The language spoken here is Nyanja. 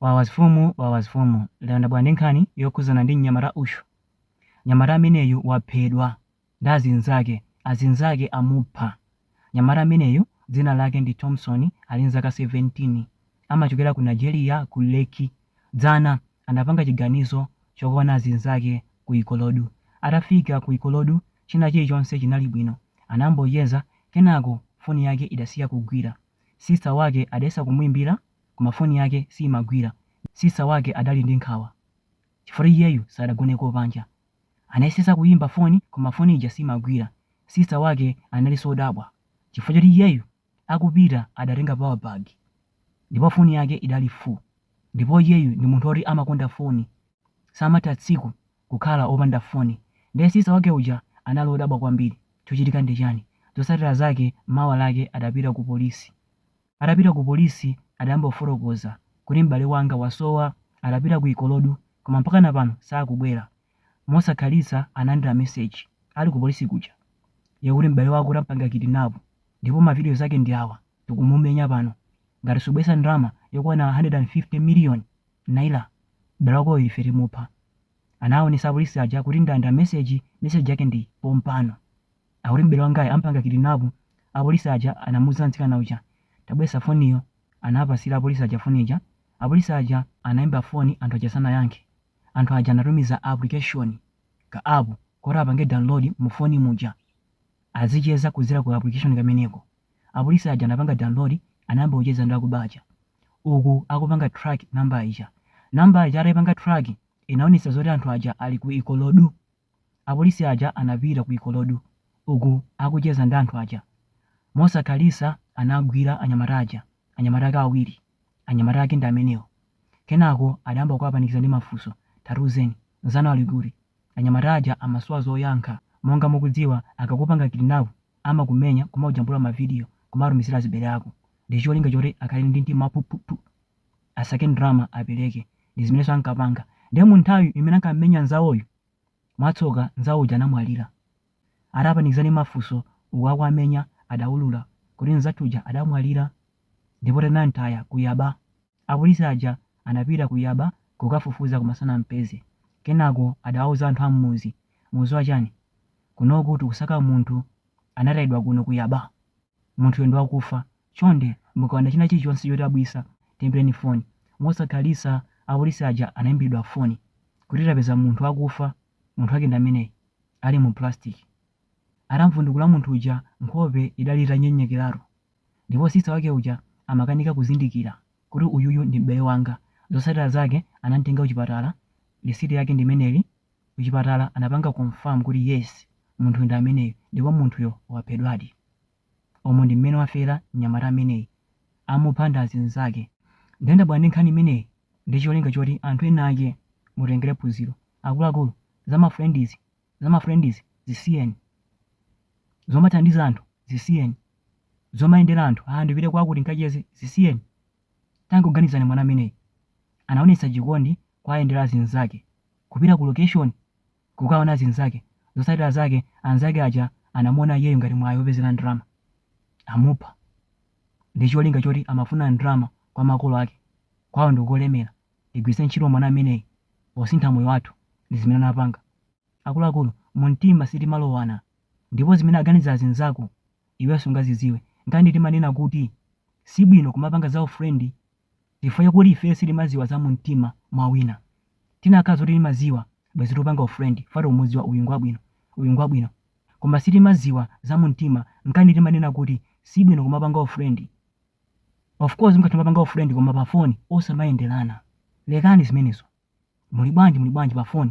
Wawas fumu wawas fumu lero ndabwera ndi nkhani yokhuzana ndi mnyamata uyu. Mnyamata ameneyu waphedwa ndi azinzake, azinzake amupha. Mnyamata ameneyu dzina lake ndi Thomson ali ndi zaka 17 amachokera ku Nigeria ku Lekki. Dzana anapanga chiganizo chokaona azinzake ku Ikorodu. Atafika ku Ikorodu china chilichonse chinali bwino. Anambocheza kenako foni yake idasiya kugwira. Sister wake adayesa kumuimbira koma foni yake siimagwira. Sister wake adali ndi nkhawa chifukwa iyeyu sadagoneko panja. Anayesetsa kuyimba foni koma foni ija siimagwira. Sister wake analinso odabwa chifukwa choti iyeyu akupita adatenga power bank ndipo foni yake idali full ndipo iyeyu ndi munthu oti amakonda foni samatha tsiku kukhala opanda foni. Ndiye sister wake uja anali odabwa kwambiri. Chochitika ndi chani? Zotsatira zake mawa lake adapita ku polisi. Atapita ku polisi adayamba kufotokoza kuti m'bale wanga wasowa. Adapita ku Ikorodu koma mpakana pano sakubwera. Mosakhalitsa analandira meseji ali ku polisi kuja yakuti m'bale wako tampanga kidinapu ndipo mavidiyo zake ndi awa, tikumumenya pano. Ngati subweretsa ndalama yokwana 150 miliyoni naira, m'bale wakoyo ife timupha. Anaaonetsa apolisi aja kuti ndalandira meseji, meseji yake ndi iyi pompano. Akuti m'bale wangayu ampanga kidinapu, apolisi aja anamuuza mtsikana uja, tabwelesa foniyo, anawapasila apolisi aja foni ija, apolisi aja anaimba foni anthu aja sanayankhe, anthu aja anatumiza application, ka app, koti apange download mu foni muja, azicheza kudzera ku ka application kameneko, apolisi aja anapanga download, anayamba kucheza ndi akuba aja, uku akupanga track number ija, number ija ataipanga track, inaonesa zoti anthu aja ali ku Ikorodu, Apolisi aja anapita ku Ikorodu uku akucheza ndi anthu aja. Mosakhalitsa anagwira anyamata aja, anyamata ake awiri. Anyamata ake ndi amenewo. Kenako adayamba kuwapanikiza ndi mafunso. Tatiuzeni, nzanu ali kuti? Anyamata aja amasowa zoyankha. Monga mukudziwa akakupanga kidnap amakumenya kumakujambula ma video kumatumizira azibale ako ndicholinga choti akhale ndi mtima waphuphuphu. asake ndalama apereke ndi zimenenso ankapanga ndiye mu nthawi imene ankammenya nzawoyu mwatsoka nzawo uja anamwalira atawapanikiza ndi mafunso uku akuwamenya adaulula kuti nzathu uja adamwalira ndipo tinamtaya ku Yaba apolisi aja anapita ku Yaba kukafufuza koma sanampeze kenako adawauza anthu a m'mudzi mukudziwa chani kunoku tikusaka munthu anatayidwa kuno ku Yaba Munthuyo ndi wakufa. Chonde, mukaona china chilichonse chodabwitsa, tiimbireni foni. Mosakhalitsa apolisi aja anaimbiridwa foni kuti, Tapeza munthu wakufa. Munthu wake ndi ameneyu, ali mu pulasitiki. Atam'vundukula munthu uja, nkhope idali itanyenyekeratu, ndipo sisita wake uja amakanika kuzindikira kuti uyuyu ndi m'bale wanga. Zotsatira zake, anam'tenga kuchipatala. Lisiti yake ndi imeneyi. kuchipatala anapanga confirm kuti yes munthuyo ndi ameneyi ndipo munthuyo waphedwadi. Umu ndi mmene wafera mnyamata ameneyi, amupha ndi azinzake. Ndiye ndabwera ndi nkhani imeneyi ndi cholinga choti anthu enaake mutengere phunziro. Akuluakulu, za ma friend izi zisiyeni. Zomathandiza anthu zisiyeni. Zomayendera anthu, ah ndipite kwakuti ndikacheze, zisiyeni. Tangoganizani mwana ameneyi anaonetsa chikondi kuwayendera azinzake, kupita ku location kukaona azinzake zotsatira zake anzake aja anamuona iyeyo ngati mwayi opezera ndalama amupha ndi cholinga choti amafuna ndalama kwa makolo ake kwao ndikolemera tigwiritse ntchito mwana ameneyi posintha moyo wathu ndi zimene anapanga. Akuluakulu mumtima sitimalowana ndipo zimene aganiza azinzako iweyo sungazidziwe. Nkanani timanena kuti sibwino kumapanga za u friend chifukwa chakuti ifeyo sitimadziwa za mumtima mwa wina. Tinakhala zoti timadziwa bwezi tupanga u friend chifukwa tikumudziwa uyu ngwabwino uyu ngwabwino koma sitimadziwa za mumtima nkanani timanena kuti sibwino kumapanga u friend of course mukatha kumapanga u friend koma pa phone osamayenderana. Lekani zimenezo. Muli bwanji muli bwanji pa phone.